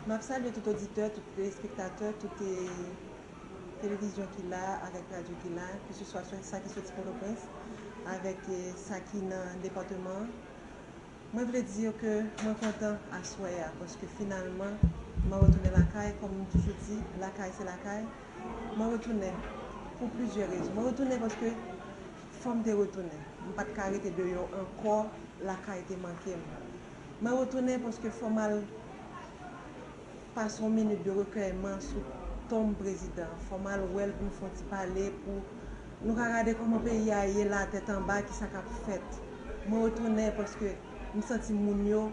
Map salye tout oditè, tout telespektatè, tout televizyon ki la avèk radyo ki la, keseswa sa ki soti Pòtoprens avèk sa ki nan depateman an. Mwen vle di yo ke mwen kontan aswè a paske finalman mwen retounen lakay kòm m toujou di lakay se lakay. Mwen retounen pou plizyè rezon. Mwen retounen paske Fò m te retounen. M pa t ka rete deyò ankò, lakay te manke m. Mwen retounen paske fò m al pase yon minit de rekèyman sou tonm prezidan an. Fò m al wè l pou n fè yon ti pale, pou nou ka gade kòman peyi a ye la, tèt anba, kisa k ap fèt. Mwen retounen paske m santi moun yo,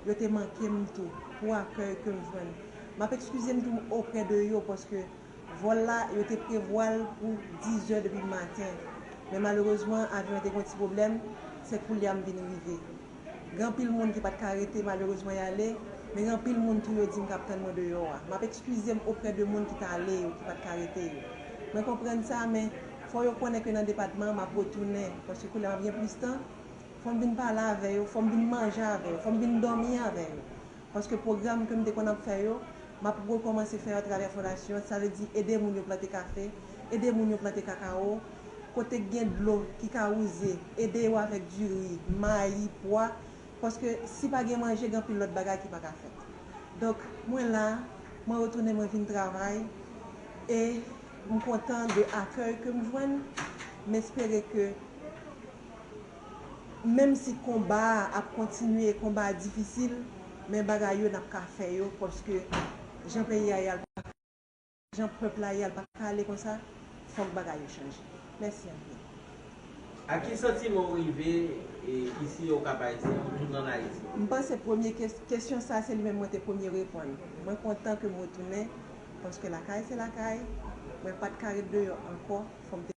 yo te manke m tou, pou akèy ke m jwenn. M ap ekskize m tou oprè de yo paske Vòl la, yo te prevwa l pou 10 zè depi maten, men malerezman avyon an te gen yon ti pwoblèm, se koulye a m vin rive. Gen anpil moun ki pa t ka rete malerezman y ale, men gen anpil moun tou yo di m k ap tann mwen deyò a. M ap ekskize m oprè de moun ki t ale yo, ki pa t ka rete yo. Mwen konprann sa, men fò yo konnen ke nan depatman an m ap retounen, paske koulye a m ap gen plis tan, fò m vin pale avè yo, fò m vin manje avè yo, fò m vin dòmi avè yo. paske pwogram ke m te konn ap fè yo, m ap rekòmanse fè yo atravè fondasyon an, sa vle di ede moun yo plante kafe, ede moun yo plante kakawo, kote k gen dlo ki ka wouze, ede yo avèk diri, mayi, pwa, paske si pa gen manje gen anpil lòt bagay ki pa ka fèt. Donk mwen la, mwen retounen mwen vin travay e m kontan de akèy ke m jwenn, m espere ke Menm si konba a ap kontinye konba a difisil men bagay yo nap ka fè yo paske jan peyi a ye a l paka ale konsa jan pèp la ye a l paka ale konsa fòk bagay yo chanje mèsi anpil. A ki santiman ou rive isi yo kap ayiti ou tounen an ayiti? M panse premye kesyon sa se li menm mwen te premye reponn mwen kontan ke m retounen paske lakay se lakay mwen pat ka ret deyò ankò fòm te